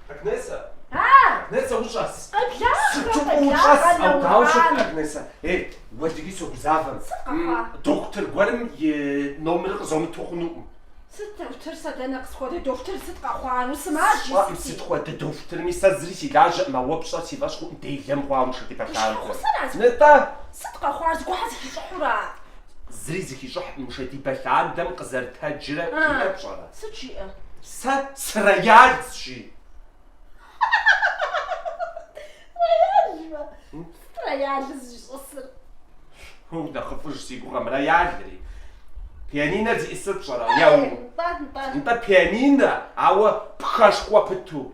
Агнесэ! Агнесэ, ущӏэс! Ущӏэс! А дауэ ущыт, Агнесэ! Ей, уэлдыги согузавэм. Дохутыр гуэрым и номерыр къызомыту хъунукъым. Сыт дохутыр сэ, дэнэ, сыт хуэдэ дохутыр, сыт къэхъуар, усымаджэ, сыт? Сщӏэӏым сыт хуэдэ дохутырми, сэ зыри си лажьэӏым, ауэ пщӏэрэ, си фӏэщ хъуӏым делэ мыхъуауэ нышэдибэ лъандэрэ. Нытӏэ! Сыт къэхъуар, зыгуэрхэ зыхищӏыхьура? Зыри зыхищӏыхькъым нышэдибэ лъандэм къызэрытэджрэ жиӏэр пщӏэрэ? Сыт жиӏэр? Сэ сырояльщ жи. Рояль жиӏэ? Сыт рояльыр зищӏысыр? Унэхъыфӏыж си гугъэм, рояльри. Пианинэр зиӏысыр пщӏэрэ? Еу. Нтӏэ, нтӏэ. Нтӏэ пианинэ, ауэ пхэшхуэ пыту.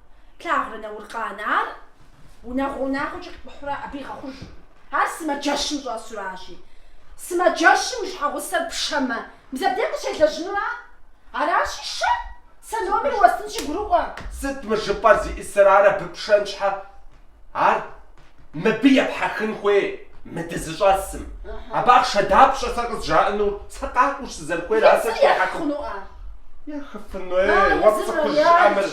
Плъагъурэ Науркъан ар унагъуэ унагъуэкӏэ къикӏухьурэ абы игъэхъуж. Ар сымаджэщым щӏэсуращи. Сымаджэщым уи щхьэгъусэр пшэмэ, мис абдей къыщелэжьынура? Аращи, шэ! Сэ номер уэстынщи гурыӏуэ. Сыт мы жыпӏэр зиӏысыр, ар абы пшэн щхьэ Ар мыбы епхьэхын хуей мы дызыщӏэсым. Абы ахъшэ дапщэ сэ къызжаӏэнур? Сэ къакӏуэщ сызэрыхуейр, ар сэ схуехьэхыну? Ехыфыну? Ей, уэ пцӏыхурэ, жыӏэ, мыр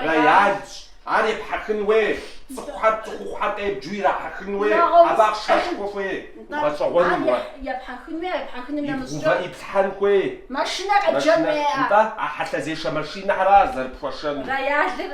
роялщ, ар епхьэхын хуей, цӏыхухэр цӏыхухъухэр къебджу ирахьэхын хуей, абы ахъшэшхуэ хуей, гъэщӏэгъуэным уэ. Ибгъэувэн, иплъхьэн хуей. Машинэ къеджэн хуей. Нтӏэ, а хьэлъэзешэ машинэхэр ара зэрыпхуэшэнур? Роялыр